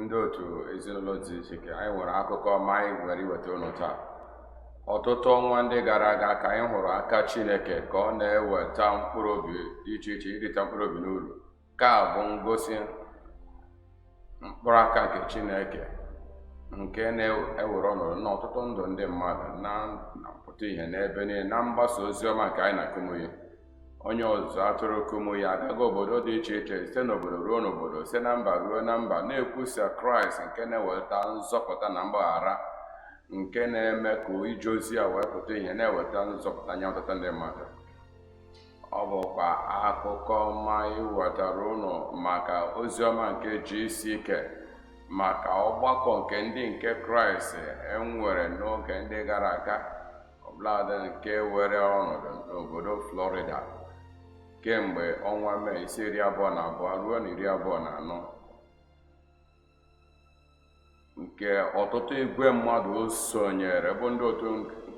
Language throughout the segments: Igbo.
ndị otu ezinụlọ dị iche iche anyị nwere akụkọ ọma anyị nwere iweta ụnụ taa ọtụtụ ọnwa ndị gara aga ka anyị hụrụ aka Chineke ka ọ na-eweta mkpụrụ obi dị iche iche irita mkpụrụ obi n'uru nke a bụ ngosi mkpụrụ aka nke Chineke nke na-ewere ọnọdụ n'ọtụtụ ndụ ndị mmadụ na mpụta ihe n'ebe niile na mgbasa ozi ọma nke anyị na Kumuyi onye ọzụzụ atụrụ Kumuyi agagharị obodo dị iche iche site n'obodo ruo n'obodo site na mba ruo na mba na-ekwusa kraịst nke na-eweta nzọpụta na mgbaghara nke na-eme ka ije ozi ya wee pụta ihe na-eweta nzọpụta nye ọtụtụ ndị mmadụ ọ bụkwa akụkọ ọma iwetara ụnụ maka ozi ọma nke GCK maka ọgbakọ nke ndị nke kraịst e nwere n'oge ndị gara aga ọbụladị nke were ọnọdụ n'obodo Florida kemgbe ọnwa Mee isi iri abụọ na abụọ ruo na iri abụọ na anọ nke ọtụtụ igwe mmadụ sonyere bụ ndị otu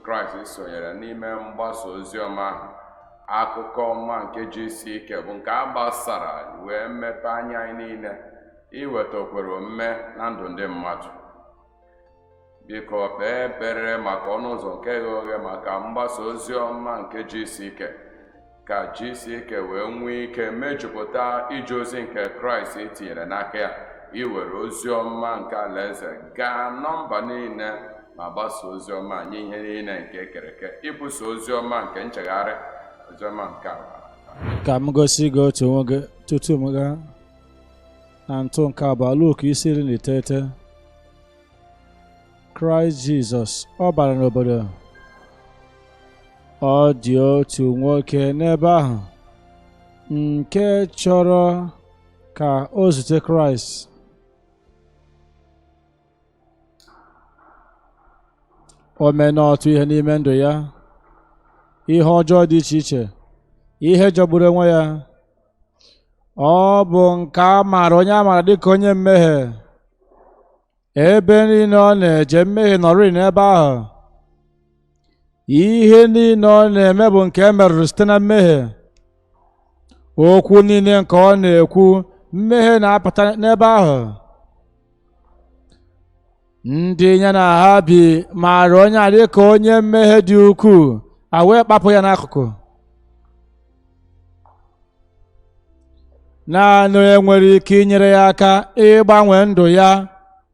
Kraịst sonyere n'ime mgbasa ozi ọma ahụ akụkọ ọma nke GCK bụ nke a gbasara wee mepee anya anyị niile iweta okwere omume na ndụ ndị mmadụ biko kpee ekpere maka ọnụ ụzọ nke ghe oghe maka mgbasa ozi ọma nke GCK ka GCK wee nwee ike mejupụta ije ozi nke kraịst tinyere n'aka ya iwere ozi ọma nke alaeze gaa na mba niile ma gbasa ozi ọma nye ihe niile nke e kere eke ibusa ozi ọma nke nchegharị ozi ọma nke ala ka m gosi gị otu nwoke tutu m gaa na ntụ nke abụọ Luk isi iri na iteghete Kraịst Jizọs ọ bara n'obodo ọ dị otu nwoke n'ebe ahụ nke chọrọ ka o zute Kraịst o meena ọtụtụ ihe n'ime ndụ ya ihe ọjọọ dị iche iche ihe jọgburu onwe ya ọ bụ nke a maara onye a maara dịka onye mmehie ebe niile ọ na-eje mmehie nọrịị n'ebe ahụ ihe niile ọ na-eme bụ nke e merụrụ site na mmehie okwu niile nke ọ na-ekwu mmehie na-apụta n'ebe ahụ ndị ya na ha bi maara onye a dị ka onye mmehie dị ukwuu a wee kpapụ ya n'akụkụ naanị onye nwere ike inyere ya aka ịgbanwe ndụ ya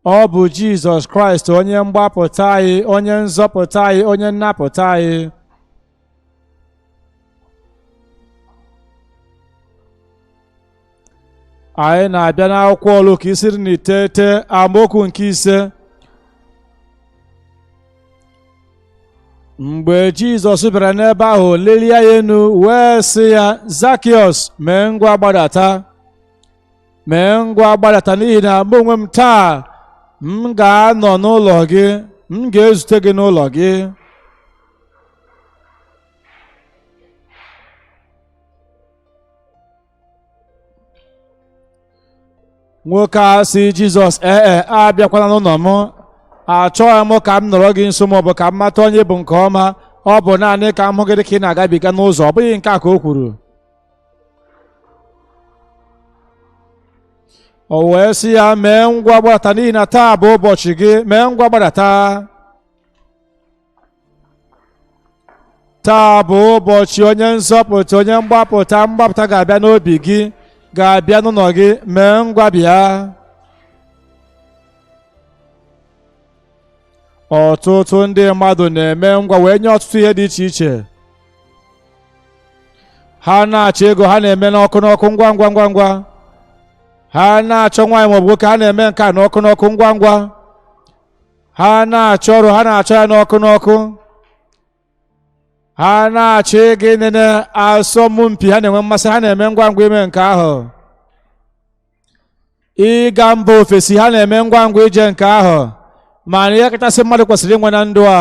ọ bụ Jizọs Kraịst onye mgbapụta anyị onye nzọpụta anyị onye nnapụta anyị anyị na-abịa n'akwụkwọ luk isi iri na iteghete amaokwu nke ise mgbe jizọs bịara n'ebe ahụ lelie anya enu wee sị ya zakiọs mee ngwa gbadata mee ngwa gbadata n'ihi na mụ onwe m taa m ga-anọ n'ụlọ gị m ga-ezute gị n'ụlọ gị nwoke a sị jizọs ee e abịakwana n'ụlọ m achọghị m ka m nọrọ gị nso maọbụ ka m mata onye ị bụ nke ọma ọ bụ naanị ka m hụ gị dị ka ị na-agabiga n'ụzọ ọ bụghị nke a ka o kwuru o wee sị ya mee ngwa gbadata n'ihi na taa bụ ụbọchị gị mee ngwa gbadata taa bụ ụbọchị onye nzọpụta onye mgbapụta mgbapụta ga-abịa n'obi gị ga-abịa n'ụlọ gị mee ngwa bịa ọtụtụ ndị mmadụ na-eme ngwa wee nye ọtụtụ ihe dị iche iche ha na-achọ ego ha na-eme n'ọkụ n'ọkụ ngwa ngwa ngwa ngwa ha na-achọ nwaanyị maọbụ nwoke ha na-eme nke a n'ọkụ n'ọkụ ngwa ngwa ha na-achọ ọrụ ha na-achọ ya n'ọkụ n'ọkụ ha na-achọ ịga ịnene asọmpi ha na-enwe mmasị ha na-eme ngwa ngwa ime nke ahụ ịga mba ofesi ha na-eme ngwa ngwa ije nke ahụ mana ihe kachasị mmadụ kwesịrị inwe na ndụ a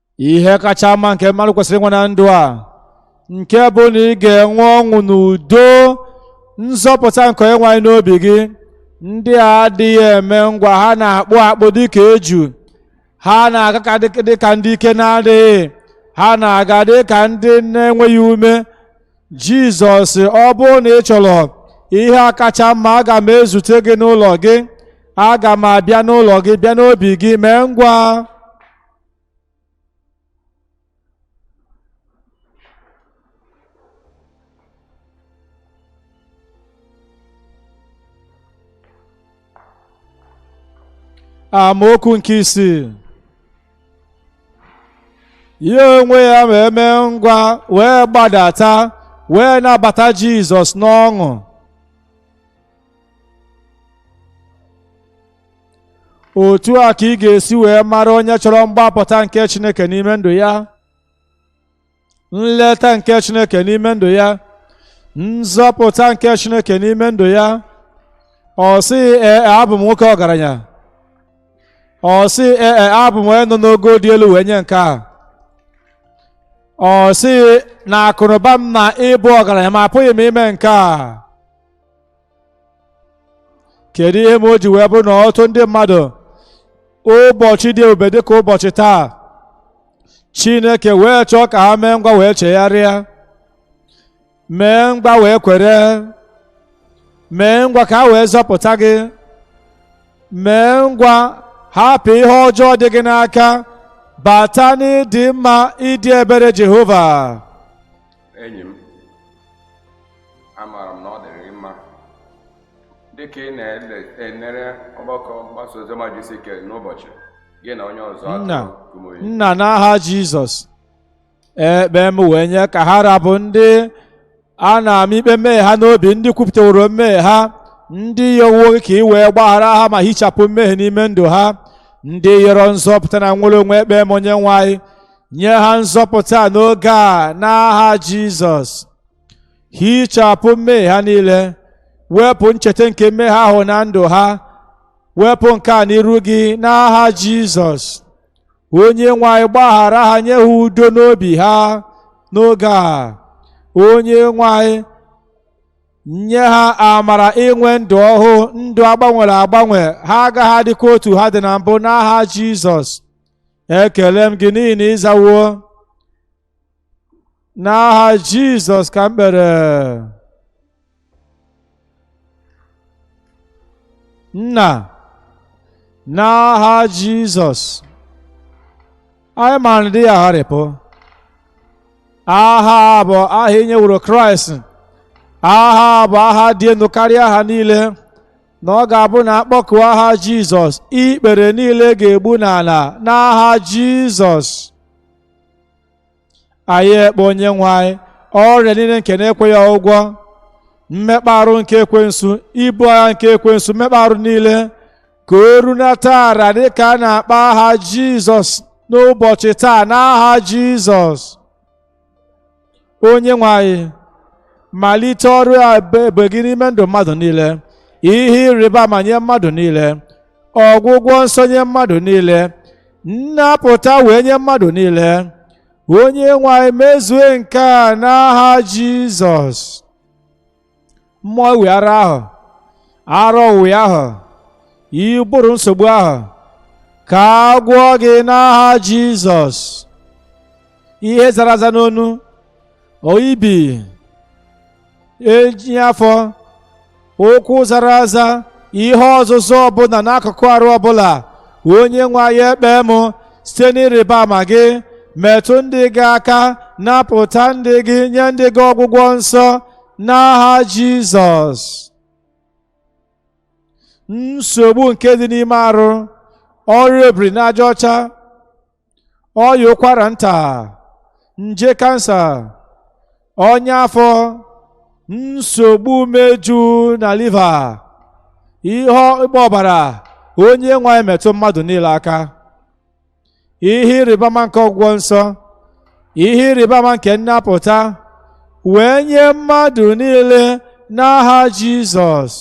ihe kacha mma nke mmadụ kwesịrị inwe na ndụ a nke bụ na ị ga-enwe ọṅụ na udo nzọpụta nke onye nwe anyị n'obi gị ndị a adịghị eme ngwa ha na-akpụ akpụ dịka eju ha na-aga ka dị- dịka ndị ike na-adịghị ha na-aga dịka ndị na-enweghị ume jizọs ọ bụrụ na ị chọrọ ihe a kacha mma aga m ezute gị n'ụlọ gị aga m abịa n'ụlọ gị bịa n'obi gị mee ngwa amaokwu nke isii ya onwe ya ma eme ngwa wee gbadata wee nabata Jizọs n'ọṅụ otu a ka ị ga-esi wee mara onye chọrọ mgbapụta nke Chineke n'ime ndụ ya nleta nke Chineke n'ime ndụ ya nzọpụta nke Chineke n'ime ndụ ya ọ sị ee e, abụ m nwoke ọgaranya ọ sị ee e, abụ m onye nọ n'ogo dị elu wee nye nke a ọ sị na akụnụba m na ịbụ ọgaranya m apụghị m ime nke a kedu ihe mere o ji wee bụrụ na ọtụtụ ndị mmadụ ụbọchị dị ebube dịka ụbọchị taa chineke wee chọọ ka ha mee ngwa wee chegharịa mee ngwa wee kwere mee ngwa ka ha wee zọpụta gị mee ngwa hapụ ihe ọjọọ dị gị n'aka bata n'ịdị mma ịdị ebere jehova enyi m amaara m na ọ dịrị mma dịka ị na-enere ọgbakọ mgbasa oziọma GCK n'ụbọchị gị na onye ọzọ nna nna n'aha jizọs ekpe m wee nye ka ha ra bụ ndị a na-ama ikpe mmehie ha n'obi ndị kwupụtaworo mmehie ha ndị yọwo ka i wee gbaghara ha ma hichapụ mmehie n'ime ndụ ha ndị yọrọ nzọpụta na nnwere onwe ekpe m onye nwe anyị nye ha nzọpụta n'oge a n'aha Jizọs hichapụ mmehie ha niile wepụ ncheta nke mmehie ahụ na ndụ ha wepụ nke a n'iru gị n'aha Jizọs onye nwe anyị gbaghara ha nye ha udo n'obi ha n'oge a onye nwe anyị nye ha amara inwe ndụ ọhụụ ndụ a gbanwere agbanwe ha agaghị adịkwa otu ha dị na mbụ n'aha Jizọs ekele m gị n'ihi na ị zawo n'aha jizọs ka m kpere nna n'aha jizọs anyị mara na-adịghị agharịpụ aha a bụ aha e nyeworo kraịst aha a bụ aha dị elu karịa aha niile na ọ ga-abụ na a kpọkuo aha Jizọs ikpere niile ga-egbu n'ala n'aha Jizọs anyị ekpe onye nwe anyị ọrịa niile nke na-ekweghị ọgwụgwọ mmekpa arụ nke ekwensu ibu agha nke ekwensu mmekpa arụ niile ka o runata ala dịka a na-akpọ aha Jizọs n'ụbọchị taa n'aha Jizọs onye nwe anyị malite ọrụ ebube gị n'ime ndụ mmadụ niile ihe ịrịba ama nye mmadụ niile ọgwụgwọ nsọ nye mmadụ niile nnapụta wee nye mmadụ niile onye nwe anyị mezue nke a n'aha jizọs mmụọ ịwị ara ahụ ara ọwịwị ahụ ụbụrụ nsogbu ahụ ka a gwọọ gị n'aha jizọs ihe zara aza n'onu ọya ibi eji afọ ụkwụ zara aza ihe ọzụza ọbụla n'akụkụ arụ ọbụla onye nwe anyị ekpe m site n'ịrịba ama gị metụ ndị gị aka napụta ndị gị nye ndị gị ọgwụgwọ nsọ n'aha Jizọs nsogbu nke dị n'ime arụ ọrịa obiri n'aja ọcha ọya ụkwara nta nje kansa ọnya afọ nsogbu umeju na liva ihe ịgba ọbara onye nwe anyị metụ mmadụ niile aka ihe ịrịba ama nke ọgwụgwọ nsọ ihe ịrịba ama nke nnapụta wee nye mmadụ niile n'aha Jizọs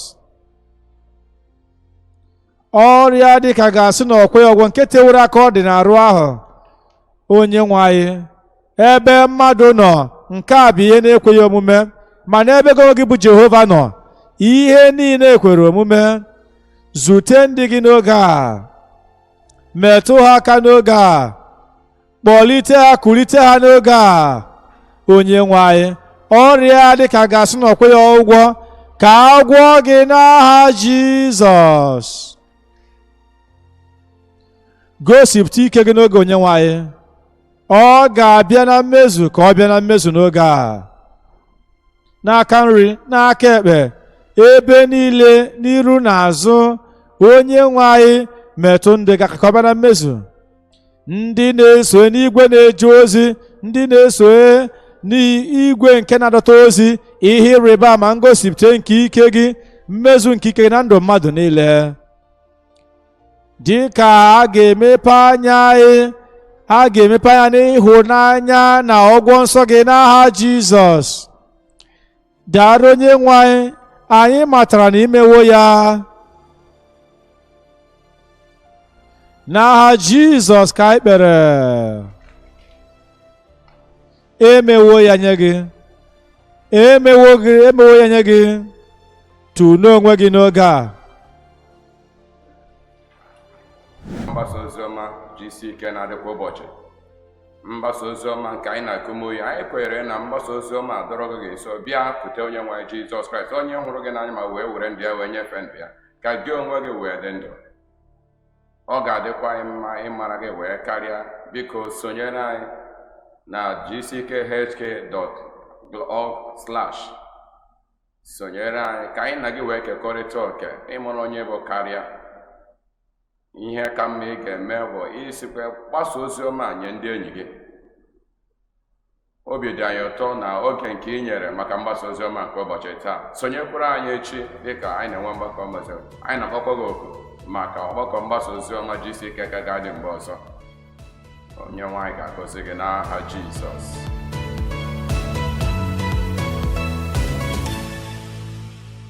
ọrịa dịka a ga-asị na o kweghị ọgwọ nke tewere aka ọ dị n'arụ ahụ onye nwe anyị ebe mmadụ nọ nke a bụ ihe na-ekweghị omume ma n'ebe gị onwe gị bụ jehova nọ ihe niile kwere omume zute ndị gị n'oge a metụ ha aka n'oge a kpọlite ha kulite ha n'oge a onye nwe anyị ọrịa dịka a ga-asị na o kweghị ọgwọ ka a gwọọ gị n'aha jizọs gosipụta ike gị n'oge onyenwe anyị ọ ga-abịa na mmezu ka ọ bịa na mmezu n'oge a n'aka nri n'aka ekpe ebe niile n'iru na azụ onye nwe anyị metụ ndị gị aka ka ọ bịa na mmezu ndị na-eso n'igwe na-eje ozi ndị na-eso n'igwe nke na-adọta ozi ihe ịrịba ama ngosipụta nke ike gị mmezu nke ike gị na ndụ mmadụ niile dị ka a ga-emepe anya anyị a ga-emepe anya n'ịhụnanya na ọgwọ nsọ gị n'aha Jizọs daalụ onye nwe anyị anyị matara na imewo ya n'aha Jizọs ka anyị kpere emewo ya nye gị emewo ya nye gị tulee onwe gị n'oge a mgbasa ozi ọma gck na-adị kwa ụbọchị mgbasa ozi ọma nke anyị na kumuyi anyị kwenyere na mgbasa ozi ọma adọrọ gị nso bịakute onye nwe anyị jizọs kraịst onye hụrụ gị n'anya ma wee were ndụ ya wee nyefee ndụ ya ka gị onwe gị wee dị ndụ ọ ga-adịkwa anyị mma ịmara gị wee karịa biko sonyere anyị na gckhq.org slash sonyere anyị ka anyị na gị wee kekọrịta oke ịmụrụ onye bụ karịa ihe ka mma ị ga-eme bụ isikwa gbasa ozi ọma nye ndị enyi gị obi dị anyị ụtọ na oge nke ị nyere maka mgbasa ozi ọma nke ụbọchị taa sonyekwara anyị echi dịka anyị na-enwe mgbakọ mgbasa anyị na-akpọkwa gị oku maka ọgbakọ mgbasa ozi ọma GCK ka ga-adị mgbe ọzọ onye nwe anyị ga-agọzi gị n'aha Jizọs